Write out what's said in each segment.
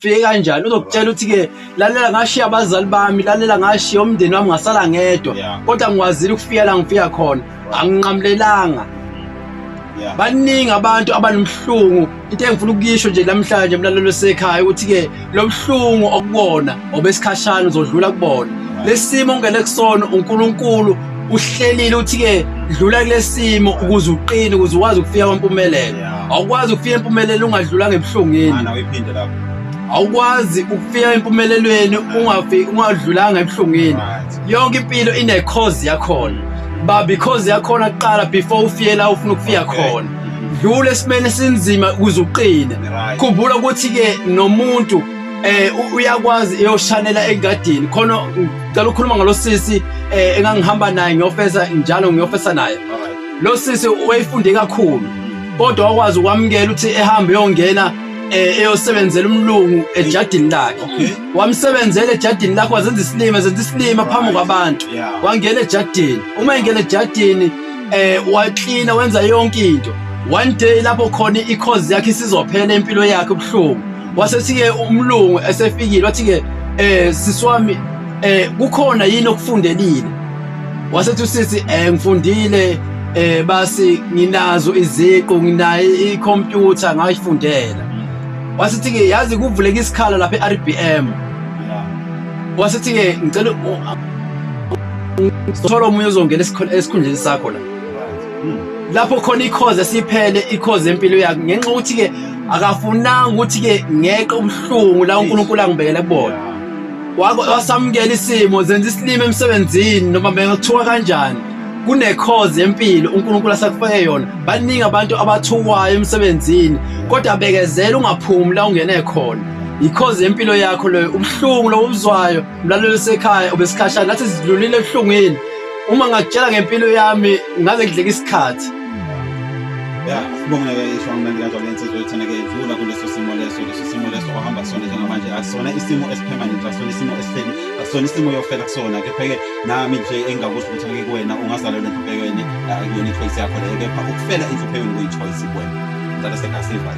fike kanjani uzokutshela ukuthi ke lalela ngashiya abazali bami lalela ngashiya umndeni wami ngasala ngedwa kodwa ngikwazile ukufika la ngifika khona anginqamlelanga baningi abantu abanomhlungu into engifuna ukuyisho nje namhlanje mlalelo sekhaya ukuthi ke lobuhlungu okubona obesikhashana uzodlula kubona lesimo ngele kusona uNkulunkulu uhlelile uthi-ke dlula kulesimo ukuze uqine ukuze ukwazi ukufika kwampumelelo awukwazi ukufika empumelelo ungadlulanga ebuhlungeni awukwazi ukufika empumelelweni ungadlulanga ebuhlungeni yonke impilo inecause yakhona ba because yakhona kuqala before ufike la ufuna ukufika khona dlula esimeni esinzima ukuze uqine khumbula ukuthi-ke nomuntu eh uyakwazi eyoshanela engadini khona ngicela ukukhuluma ngalosisi eh engangihamba naye ngiyofesa njalo ngiyofesa naye lo sisi wayefunde kakhulu kodwa wakwazi ukwamukela ukuthi ehambe eyongena eh, eyosebenzela umlungu ejadini lakhe wamsebenzela ejadini lakhe wazenza isilima zenza isilima phambi kwabantu wangena ejadini uma engena ejadini eh waklina wenza yonke into one day lapho khona ikhozi yakhe isizophela impilo yakhe ubuhlungu wasethi-ke umlungu esefikile wathi-ke um sisi wami um kukhona yini okufundelile wasethi usisi um ngifundile um basi nginazo iziqu nginayo ikhompyutha ngayifundela wasethi-ke yazi kuvuleka isikhala lapha e-r b m wasethi-ke ngicela thola omunye ozongena esikhundleni sakho la lapho khona ikhoze siphele ikhoze empilo yakhe ngenxa ukuthi ke akafunanga ukuthi ke ngeqe ubuhlungu la uNkulunkulu angibekele kubona wasamukela isimo zenza isilima emsebenzini noma bengakuthiwa kanjani kunekhoze empilo uNkulunkulu asakufake yona baningi abantu abathukwayo emsebenzini kodwa bekezela ungaphumi la ungene khona yikhoze empilo yakho leyo ubuhlungu lobuzwayo mlalelo sekhaya obesikhashana nathi sidlulile ebuhlungwini Uma ngakutshela ngempilo yami ngaze ngidleke isikhathi. Ya, sibonga ishwa mnandi kanjalo lensizwe ethana ke idlula kuleso simo leso leso simo leso ohamba kusona njengamanje akusona isimo esipermanent akusona isimo esihleli akusona isimo yofela kusona kepha ke nami nje engakusho ukuthi ngeke kuwena ungazalwa lento bhekweni akuyona ichoice yakho leyo kepha ukufela into bhekweni kuyichoice kuwena ngicela sekasiva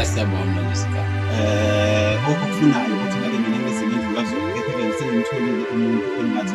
asiyabona lesika eh okufunayo ukuthi ngeke mina ngizimindlula kuzona kepha ke ngisengimtholile umuntu engathi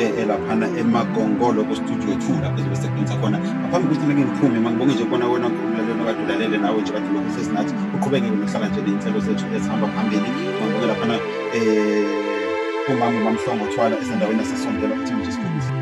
eh, elaphana emagongolo kustudio two lapho ezobe sebenza khona ngaphambi kokuthi nake ngiphume mangibonge nje kona wena ulalelo kade ulalele nawe nje kade lokhu sesinathi uqhubeke nokuhlala nje ney'nhlelo zethu ezihamba phambili mangibonge laphana um umama ubamhlongo thwala esendaweni yasesondela ukuthi nje